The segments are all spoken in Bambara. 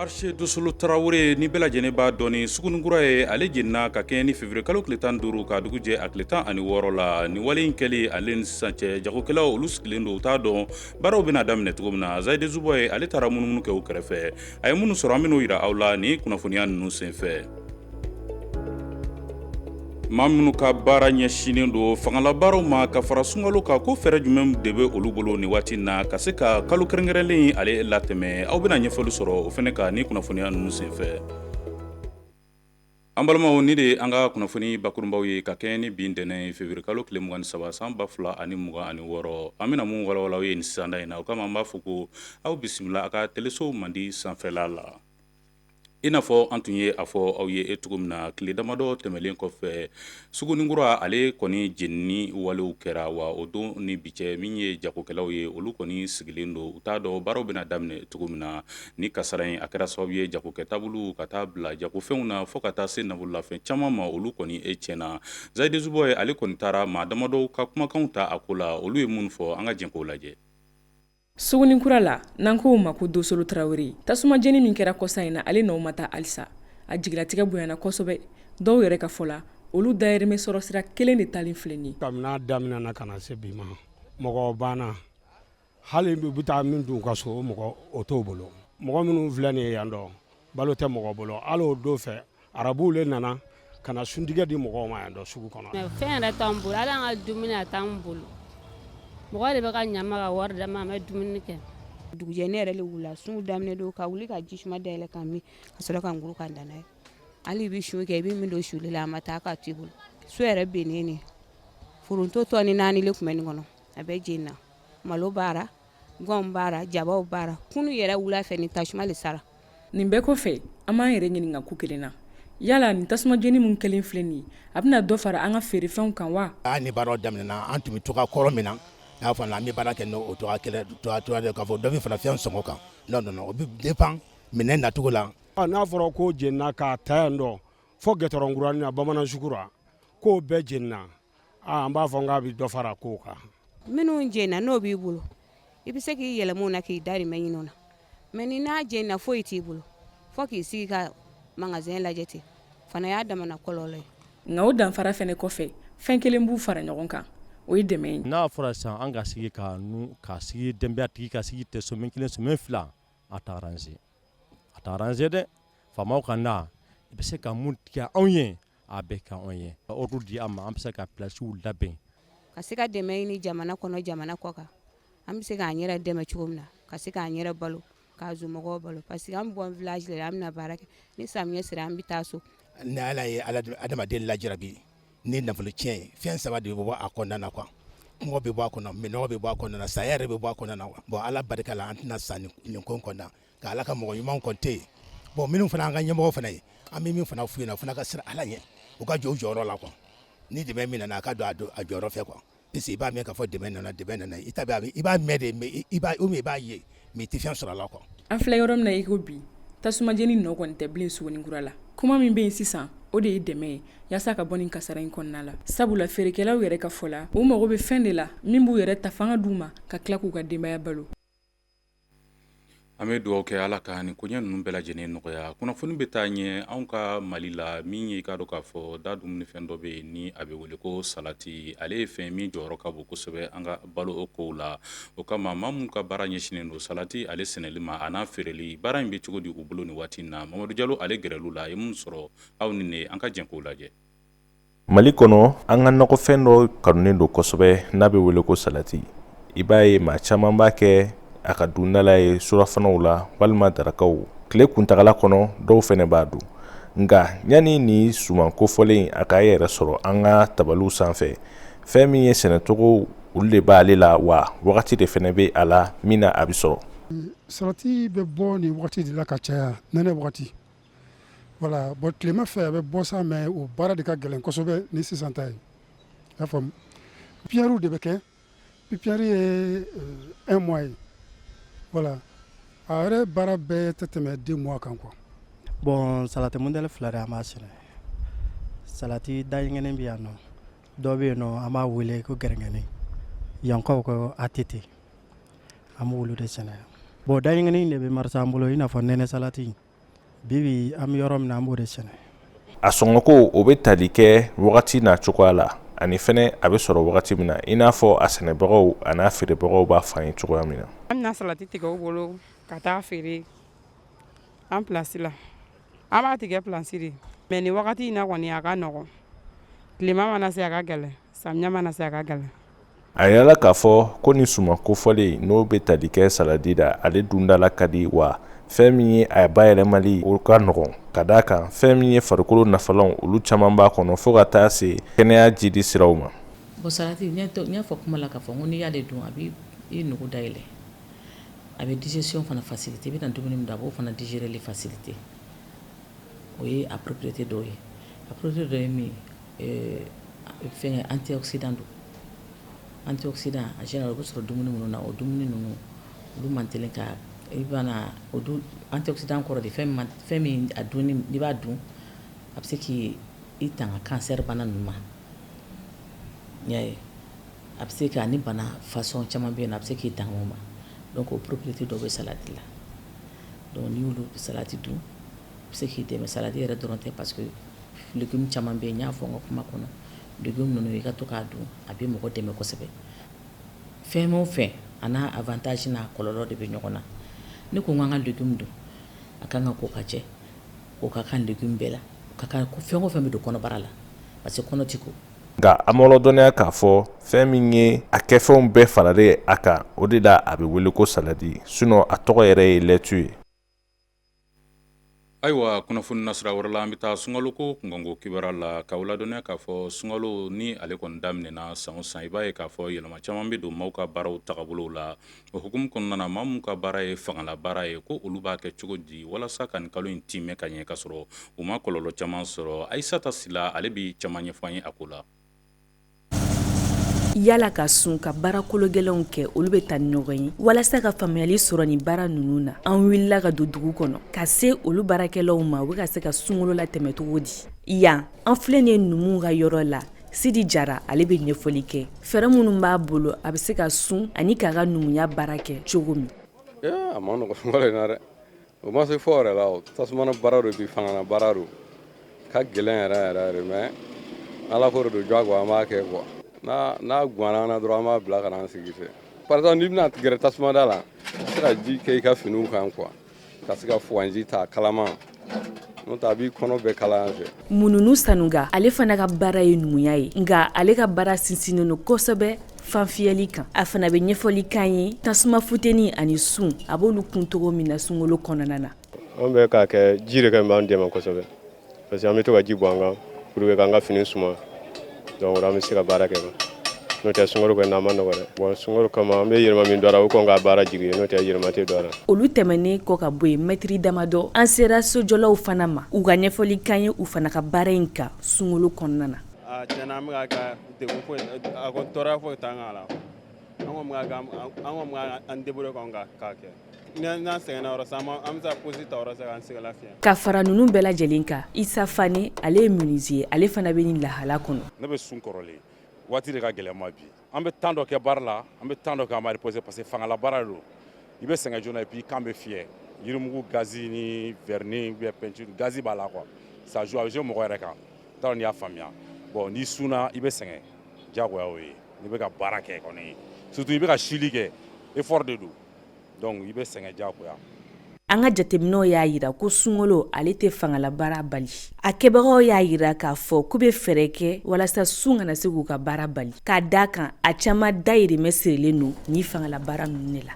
Marché Dosolo tarawele ni bɛɛ lajɛlen b'a dɔn ni sugunikura ye ale jenina ka kɛɲɛ ni février kalo tile tan duuru ka dugu jɛ a tile tan ani wɔɔrɔ la ni wale in kɛli ale ni sisan cɛ jagokɛlaw olu sigilen don u t'a dɔn baaraw bɛna daminɛ cogo min na Zayidi Zuboye ale taara munumunu kɛ u kɛrɛfɛ a ye minnu sɔrɔ an bɛn'o yira aw la ni kunnafoniya ninnu senfɛ maa minnu ka baara ɲɛsinnen don fangalabaaraw ma ka fara sunkalo kan ko fɛɛrɛ jumɛn de bɛ olu bolo ni waati na ka se ka kalo kɛrɛnkɛrɛnlen ale latɛmɛ aw bɛna ɲɛfɔli sɔrɔ o fɛnɛ kan ni kunnafoniya ninnu senfɛ An balimaw ni de an ka kunnafoni bakurunbaw ye ka kɛɲɛ ni bi ntɛnɛn février kalo tile mugan ni saba san ba fila ani mugan ani wɔɔrɔ an bɛna minnu walawala aw ye nin sisanda in na o kama an b'a fɔ ko aw bisimila aw ka teleso mandi sanfɛla la i n'a fɔ an tun ye a fɔ aw ye e cogo min na tile damadɔ tɛmɛnlen kɔfɛ Sugunikura ale kɔni jenini walew kɛra wa o don ni bi cɛ min ye jagokɛlaw ye olu kɔni sigilen don u t'a dɔn baaraw bɛna daminɛ cogo min na ni kasara in a kɛra sababu ye jagokɛ tabulu ka taa bila jagofɛnw na fo ka taa se nafololafɛn caman ma olu kɔni e tiɲɛna Zayidi Zuboye ale kɔni taara maa damadɔ ka kumakanw ta a ko la olu ye mun fɔ an ka jɛn k'o lajɛ Sugunikura la n'an k'o ma ko Dosolo tarawele tasuma jeni min kɛra kɔsa in na ale nɔw ma taa halisa a jigilatigɛ bonyana kosɛbɛ dɔw yɛrɛ ka fɔ la olu dayirimɛ sɔrɔ sira kelen de taalen filɛ nin ye kabini a daminɛna ka na se bi ma mɔgɔ banna hali bɛ taa min dun ka so mɔgɔ o t'o bolo mɔgɔ minnu filɛ nin ye yan dɔ balo tɛ mɔgɔ bolo hali o don fɛ arabuw le nana ka na suntigɛ di mɔgɔw ma yan dɔ sugu kɔnɔ fɛn yɛrɛ t'an bolo hali an ka dumuni a t'an bolo mɔgɔ de bɛ ka ɲ'an ma ka wari d'an ma an bɛ dumuni kɛ dugujɛ ne yɛrɛ le wula sun daminɛ don ka wuli ka ji suma dayɛlɛ ka min ka sɔrɔ ka nguru ka dan n'a ye hali i bɛ sun kɛ i bɛ min don suli la a ma taa ka to i bolo so yɛrɛ bennen ne foronto tɔni naani le tun bɛ nin kɔnɔ a bɛɛ jenina malo b'a ra gan b'a ra jaba b'a ra kunun yɛrɛ wula fɛ ni tasuma de sara nin bɛɛ kɔfɛ an b'an yɛrɛ ɲininka ko kelen na yala nin tasuma jeni min kɛlen filɛ nin ye a bɛna dɔ fara an ka feerefɛnw kan wa a ni baaraw daminɛna an tun bɛ cogo kɔrɔ min na n'a fana an bɛ baara kɛ n'o cogo kelen k'a fɔ dɔ bɛ fara fɛn sɔngɔ kan non non o bɛ dépend minɛn nacogo la n'a fɔra ko jenina k'a ta yan dɔ fo gudɔrɔn kuranin na bamanan sugu ra k'o bɛɛ jenina an b'a fɔ k'a bɛ dɔ fara ko kan minnu jenina n'o b'i bolo i bɛ se k'i yɛlɛma o na k'i darimɛ ɲini o na mais ni n'a jenina foyi t'i bolo fo k'i sigi ka magasin lajɛ ten fana y'a damana kɔlɔlɔ ye nka o danfara fana kɔfɛ fɛn kelen b'u fara ɲɔgɔn kan o ye dɛmɛ ye n'a fɔra sisan an ka sigi ka ka sigi denbayatigi ka sigi tɛ semaine kelen semaine fila a t'a arranger a t'a arranger dɛ faamaw ka na i bɛ se ka mun tigɛ anw ye a bɛ kɛ anw ye ka ordre di an ma an bɛ se ka placew labɛn ka se ka dɛmɛ ɲini jamana kɔnɔ jamana kɔkan an bɛ se k'an yɛrɛ dɛmɛ cogo min na ka se k'an yɛrɛ balo ka somɔgɔw balo parce que an bɛ bɔ village de la an bɛna baara kɛ ni samiyɛ sera an bɛ taa so ni Ala ye adamaden lajarabi ni nafolo tiɲɛ ye fɛn saba de bɛ bɔ a kɔnɔna na quoi kɔngɔ bɛ bɔ a kɔnɔ minnɔgɔ bɛ bɔ a kɔnɔna na saya yɛrɛ bɛ bɔ a kɔnɔna na quoi bon Ala barika la an tɛna sa nin ko in kɔnɔna Nka ala ka mɔgɔ ɲuman kɔni tɛ yen bon minnu fana an ka ɲɛmɔgɔ fana ye an bɛ min fana f'u ye u fana ka siran ala ɲɛ u ka jɔ u jɔyɔrɔ la quoi ni dɛmɛ min nana a ka don a don a jɔyɔrɔ fɛ quoi puisque i b'a mɛn k'a fɔ dɛmɛ nana dɛmɛ nana i ta i b'a mɛn de mais i b'a mɛn i b'a ye mais i tɛ fɛn sɔrɔ a la quoi an filɛ yɔrɔ min na i ko bi tasuma jeni nɔ kɔni tɛ bilen Suguninkura la kuma min bɛ yen sisan o de ye dɛmɛ ye yaasa ka bɔ nin kasara in kɔnɔna la sabula feerekɛlaw yɛrɛ ka fɔ la u mago bɛ fɛn de la min b'u yɛrɛ ta fanga d'u ma ka tila k'u ka denbaya balo An bɛ dugawu kɛ ala ka nin koɲɛ ninnu bɛɛ lajɛlen nɔgɔya kunnafoni bɛ taa ɲɛ anw ka Mali la min ye i k'a dɔn k'a fɔ da dumunifɛn dɔ bɛ yen ni a bɛ wele ko salati ale ye fɛn min jɔyɔrɔ ka bon kosɛbɛ an ka balo o kow la o kama maa minnu ka baara ɲɛsinnen don salati ale sɛnɛli ma a n'a feereli baara in bɛ cogo di u bolo nin waati in na Mamadu Jalo ale gɛrɛl'u la a ye mun sɔrɔ aw ni ne an ka jɛn k'o lajɛ Mali kɔnɔ an ka nakɔfɛn dɔ kanunen don kosɛbɛ n'a bɛ wele ko salati i b'a ye maa caman b'a kɛ a ka dundala ye surafanaw la walima darakaw tile kuntagala kɔnɔ dɔw fɛnɛ b'a dun nka yanni ni suman kofɔlen a k'a yɛrɛ sɔrɔ an ka tabaliw sanfɛ fɛn min ye sɛnɛcogo olu de b'ale la wa wagati de fɛnɛ bɛ a la min na a bɛ sɔrɔ salati bɛ bɔ nin wagati de la ka caya n Voilà bon tilema fɛ a bɛ bɔ sa mais o baara de ka gɛlɛn kosɛbɛ ni sisan ta ye i y'a faamu pépinièrew de bɛ kɛ pépinière ye un mois ye voilà a yɛrɛ baara bɛɛ tɛ tɛmɛ deux mois kan quoi bon salati modèle fila de an b'a sɛnɛ salati dayiŋɛnen bɛ yan nɔ dɔ bɛ yen nɔ an b'a wele ko gɛrɛngɛni yankaw ko ATT an b'olu de sɛnɛ bon dayiŋɛnen de bɛ marcher an bolo i n'a fɔ nɛnɛ salati bibi an bɛ yɔrɔ min na an b'o de sɛnɛ a sɔngɔko o bɛ tali kɛ wagati n'a cogoya la ani fɛnɛ a bɛ sɔrɔ wagati min na i n'a fɔ a sɛnɛbagaw a n'a feerebagaw b'a fɔ an ye cogoya min na an bɛ na salati tigɛ u bolo ka taa feere an pilasi la an b'a tigɛ pilasi de mais nin wagati in na kɔni a ka nɔgɔn tilema mana se a ka gɛlɛn samiya mana se a ka gɛlɛn a yirala k'a fɔ ko ni suman kofɔlen n'o bɛ tali kɛ saladi la ale dun da la ka di wa fɛn min ye a bayɛlɛmali o ka nɔgɔn ka d'a kan fɛn min ye farikolo nafalanw olu caman b'a kɔnɔ fo ka taa se kɛnɛya jidi siraw ma bon salati n y'a fɔ kuma la k'a fɔ ko n'i y'ale dun a bɛ i nugu dayɛlɛ a bɛ digestion fana faciliter i bɛ na dumuni min dun a b'o fana digérer faciliter o ye a propriété dɔw ye a propriété dɔ ye min ye Fɛn antioxydant don antioxydant en général o bɛ sɔrɔ dumuni minnu na o dumuni ninnu olu man teli ka i bana antioxydant kɔrɔ de fɛn min a dunni n'i b'a dun a bɛ se k'i tanga cancer bana ninnu ma n y'a ye a bɛ se ka ni bana façon caman bɛ yen na a bɛ se k'i tanga o ma donc o propriété dɔ bɛ salati la donc n'i y'olu salati dun bɛ se k'i dɛmɛ saladi yɛrɛ dɔrɔn tɛ parce que légume caman bɛ yen n y'a fɔ n ka kuma kɔnɔ légume ninnu i ka to k'a dun a bɛ mɔgɔ dɛmɛ kosɛbɛ fɛn o fɛn a n'a avantage n'a kɔlɔlɔ de bɛ ɲɔgɔn na ne ko n k'an ka légume dun a ka kan ka ko ka jɛ o ka kan légume bɛɛ la o ka kan fɛn o fɛn bɛ don kɔnɔbara la parce que kɔnɔ tɛ ko nka an b'aw ladɔnniya k'a fɔ fɛn min ye a kɛfɛnw bɛɛ faralen a kan o de la a bɛ wele ko saladi sinon a tɔgɔ yɛrɛ ye lɛtu ye Ayiwa kunnafoni nasira wɛrɛ la an bɛ taa sungalo ko kunkan ko kibaru la k'aw ladɔnniya k'a fɔ sungalo ni ale kɔni daminɛna san o san i b'a ye k'a fɔ yɛlɛma caman bɛ don maaw ka baaraw tagabolow la o hukumu kɔnɔna na maa minnu ka baara ye fangala baara ye ko olu b'a kɛ cogo di walasa ka nin kalo in tiimɛ ka ɲɛ ka sɔrɔ u ma kɔlɔlɔ caman sɔrɔ Ayisata Sila ale bɛ caman ɲɛfɔ an ye a ko la yala ka sun ka baara kologɛlɛnw kɛ olu bɛ taa ni ɲɔgɔn ye walasa ka faamuyali sɔrɔ ni baara ninnu na an wulila ka don dugu kɔnɔ ka se olu baarakɛlaw ma u bɛ ka se ka sunkalo latɛmɛ cogo di yan an filɛ nin ye numu ka yɔrɔ la Sidi Jara ale bɛ ɲɛfɔli kɛ fɛɛrɛ minnu b'a bolo a bɛ se ka sun ani k'a ka numuya baara kɛ cogo min o ma se fɔ yɛrɛ la o tasumana baara do bi fangana baara do ka gɛlɛn yɛrɛ yɛrɛ yɛrɛ mais Ala ko de do jagoya an b'a kɛ quoi n'a gwanna an na dɔrɔn an b'a bila ka na an sigi fɛ par exemple n'i bɛna gɛrɛ tasumada la i bɛ se ka ji kɛ i ka finiw kan quoi ka se ka fuganji ta kalaman n'o tɛ a b'i kɔnɔ bɛɛ kalaya yan fɛ Mumuni Sanɔgɔ ale fana ka baara ye numuya ye nka ale ka baara sinsinnen do kosɛbɛ fanfiyɛli kan a fana bɛ ɲɛfɔli k'an ye tasuma futeni ani sun a b'olu kun cogo min na sunkalo kɔnɔna na an bɛ k'a kɛ ji de kɛ b'an dɛmɛ kosɛbɛ parce que an bɛ to ka ji bɔn an kan pour que k'an ka fini suma donc an bɛ se ka baara kɛ n'o tɛ sunkalo kɔni a man nɔgɔ dɛ bon sunkalo kama an bɛ yɛlɛma min don a la o kɔn ka baara jigin n'o tɛ yɛlɛma tɛ don a la olu tɛmɛnen kɔ ka bɔ yen mɛtiri damadɔ an sera sojɔlaw fana ma u ka ɲɛfɔli k'an ye u fana ka baara in kan sunkalo kɔnɔna na ah, de ko a ko tɔɔrɔya foyi t'an kan a la an kɔni bɛ ka an kɔni bɛ an débrouiller kɔni ka k'a kɛ n'an sɛgɛnna yɔrɔ sisan an bɛ se ka pause ta yɔrɔ sisan k'an sɛgɛn lafiɲɛ ka fara ninnu bɛɛ lajɛlen kan Isa Fane ale ye menuisier ye ale fana bɛ nin lahala kɔnɔ ne bɛ sun kɔrɔlen waati de ka gɛlɛn ma bi an bɛ temps dɔ kɛ baara la an bɛ temps dɔ kɛ an b'an reposer parce que fangala baara de don i bɛ sɛgɛn joona et puis i kan bɛ fiyɛ yirimugu gazi ni vernis ou bien peinture gazi b'a la quoi ça joue a bɛ jouer mɔgɔ yɛrɛ kan T'a dɔn n'i y'a faamuya bon n'i sunna i bɛ sɛgɛn jagoya o ye n'i bɛ ka baara kɛ kɔni surtout i bɛ ka sili kɛ effort de don donc i bɛ sɛgɛn jagoya An ka jateminɛw y'a yira ko sunkalo ale tɛ fangala baara bali. A kɛbagaw y'a yira k'a fɔ k'u bɛ fɛɛrɛ kɛ walasa sun kana se k'u ka baara bali. K'a d'a kan a caman dayirimɛ sirilen don ni fangala baara ninnu de la.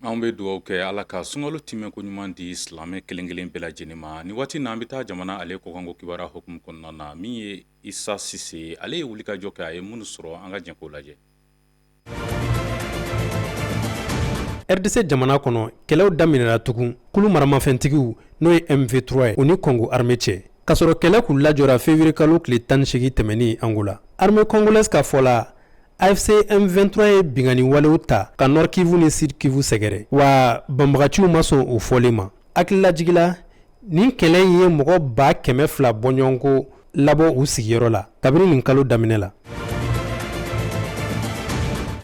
An bɛ dugawu kɛ ala ka sunkalo tɛmɛnko ɲuman di silamɛ kelenkelen bɛɛ lajɛlen ma nin waati na an bɛ taa jamana ale kɔkanko kibaruya hukumu kɔnɔna na min ye Isa Sise ye ale ye wulikajɔ kɛ a ye minnu sɔrɔ an ka jɛ k'o lajɛ RDC jamana kɔnɔ kɛlɛw daminɛra tugun kulu maramafɛntigiw n'o ye M23 ye o ni kɔngo armée cɛ k'a sɔrɔ kɛlɛ kun lajɔra février kalo tile tan ni segin tɛmɛnen Angola armée congolaise ka fɔ la AFC M23 ye binkanni walew ta ka Nord Kivu ni Sud Kivu sɛgɛrɛ wa banbagaciw ma sɔn o fɔlen ma hakililajigila nin kɛlɛ in ye mɔgɔ ba kɛmɛ fila bɔɲɔgɔnko labɔ u sigiyɔrɔ la kabini nin kalo daminɛ la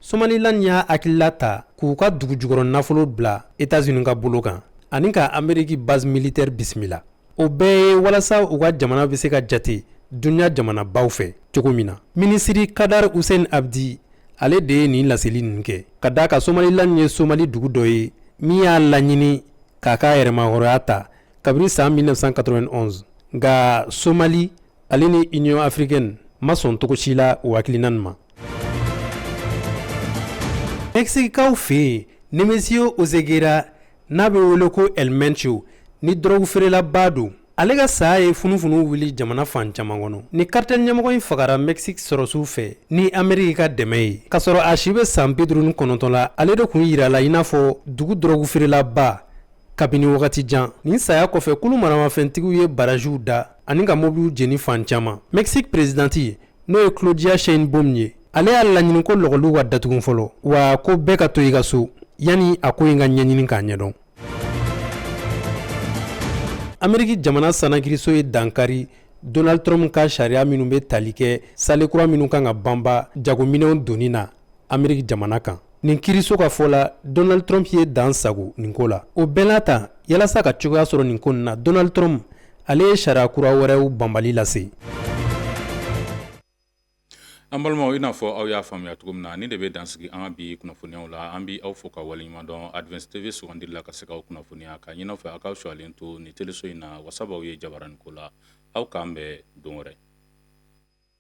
Somaliland y'a hakilila ta k'u ka dugu jukɔrɔ nafolo bila etats-unis ka bolo kan ani ka ameriki base militaire bisimila o bɛɛ ye walasa u ka jamana bɛ se ka jate dunuya jamanabaw fɛ cogo min na minisiri Khadar Hussein Abdi ale de ye nin laseli ninnu kɛ k'a d'a kan Somaliland ye somali dugu dɔ ye min y'a laɲini k'a ka yɛrɛmahɔrɔya ta kabini san 1991 nka somali ale ni union africaine ma sɔn cogo si la o hakilina nin ma mɛkisikikaw fɛ yen nemesio oseguera n'a bɛ wele ko el mencho nin dɔrɔgu feerelaba don ale ka saya ye funufunu wuli jamana fan caman kɔnɔ nin karitɛl ɲɛmɔgɔ in fagara mɛkisiki sɔrɔsiw fɛ ni ameriki ka dɛmɛ ye k'a sɔrɔ a si bɛ san bi duuru ni kɔnɔntɔn la ale de kun yirala i n'a fɔ dugu dɔrɔgu feerelaba kabini wagati jan nin saya kɔfɛ kulu maramafɛntigiw ye baraziw da ani ka mobiliw jeni fan caman mexique perezidanti n'o ye claudia sheinbaum ye ale y'a laɲini ko lɔgɔliw ka datugun fɔlɔ wa ko bɛɛ ka to i ka so yanni a ko in ka ɲɛɲini k'a ɲɛdɔn ameriki jamana sanakiriso ye dankari donald trump ka sariya minnu bɛ tali kɛ saale kura minnu kan ka banba jagominɛnw donni na ameriki jamana kan Nin kiiriso ka fɔ la Donald Trump ye dan sago nin ko la. O bɛɛ n'a ta, yalasa ka cogoya sɔrɔ nin ko in na, Donald Trump ale ye sariya kura wɛrɛw banbali lase. An balimaw i n'a fɔ aw y'a faamuya cogo min na nin de bɛ dan sigi an ka bi kunnafoniyaw la an bɛ aw fo ka waleɲuman dɔn Advance TV sugandili la ka se k'aw kunnafoniya k'a ɲin'aw fɛ aw k'aw sɔyalen to nin teleso in na wasa b'aw ye jabarani ko la aw k'an bɛn don wɛrɛ